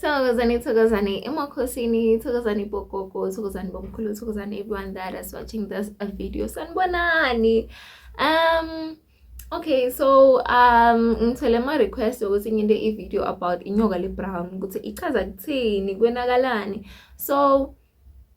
Thokozani, thokozani emakhosini, thokozani bogogo, thokozani bomkhulu, thokozani everyone that is watching this uh, video. Sanibonani. Um Okay, so um ngithole ama request ukuthi nginte i video about inyoka le brown ukuthi ichaza kuthini, kwenakalani. So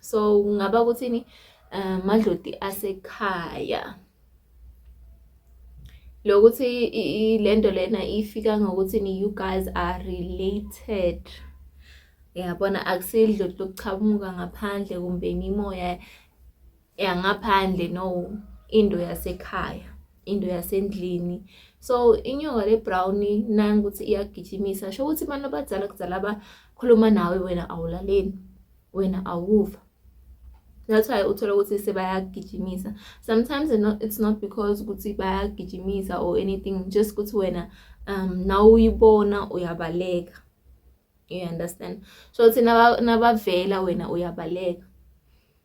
so kungaba ukuthini um madloti asekhaya lokuthi lento lena ifika ngokuthi ni you guys are related yabona akusidloti lokuchamuka ngaphandle kumbe imimoya yangaphandle no into yasekhaya into yasendlini so inyoka le brown nani ukuthi iyagijimisa sho ukuthi abantu abadala kudala abakhuluma nawe wena awulaleli wena awuva that's why uthola ukuthi sebayagijimisa sometimes it's not because ukuthi bayagijimisa or anything just ukuthi wena um nawe uyibona uyabaleka you understand so ukuthi nabavela wena uyabaleka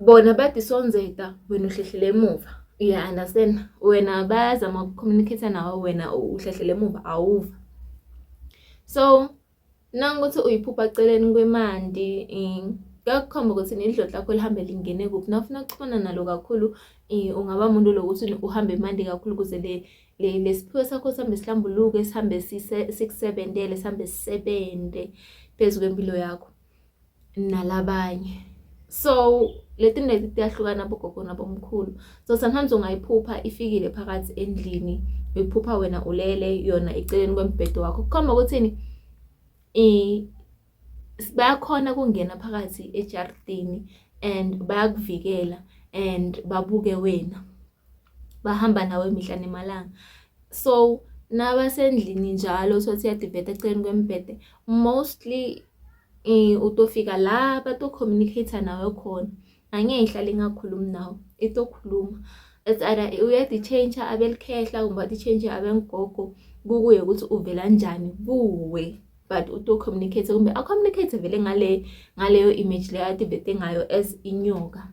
Bona bathi sonzeka wena uhlehlele emuva. Uya understand? Wena bayazama uku-communicate nawe wena uhlehlele emuva awuva. So nangokuthi uyiphupha celeni kwemandi eh, kuyakukhomba ukuthi nidloti lakho lihambe lingene kuphi nawufuna ukuxhumana nalo kakhulu eh, ungaba muntu lokuthi uhambe imandi kakhulu ukuze le lesiphiwo sakho sihambe sihlambuluke sihambe sikusebenzele sihambe sisebenze phezu kwempilo yakho nalabanye so leti neti tiyahlukana bogogo nabomkhulu so sometimes ungayiphupha ifikile phakathi endlini uyiphupha wena ulele yona eceleni kwembhedo wakho kukhomba ukuthini bayakhona kungena phakathi ejaridini and bayakuvikela and babuke wena bahamba nawe mihla nemalanga so nabasendlini njalo sothi yadibheda eceleni kwembhede mostly eh, utofika la bato-communicate nawe khona angeke ihlale ingakhulumi nawe itokhuluma it's either uyadi-change abelikhehla kumbe wadi-change abengigogo kukuye ukuthi uvela njani kuwe but uto-communicate kumbe a-communicate vele ngale ngaleyo image leyo adibhede ngayo as inyoka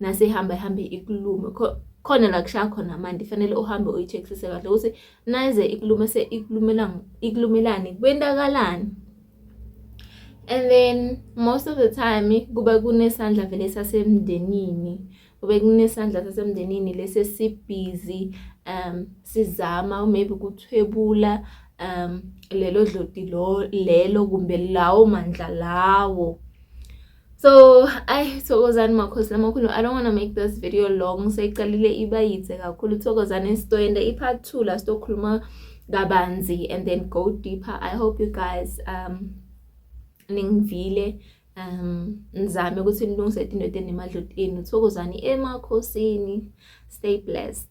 nasihamba ihambe ikulume khona la kushaya khona manje fanele uhambe uyi-checksise kahle ukuthi nayize ikulume se ikulumelani kwentakalani and then most of the time kuba kunesandla vele sasemndenini kube kunesandla sasemndenini lesi sibhizi um sizama maybe kuthwebula um lelo dloti lo lelo kumbe lawo mandla lawo so ayi thokozani makhosi lamakhulu i don't wanna make this video long seyiqalile iba yithe kakhulu thokozani sitoyenda i-part two la sitokhuluma kabanzi and then go deeper i hope you guys um ningivile um ngizame ukuthi nilungise into enemadlotini thokozani emakhosini stay blessed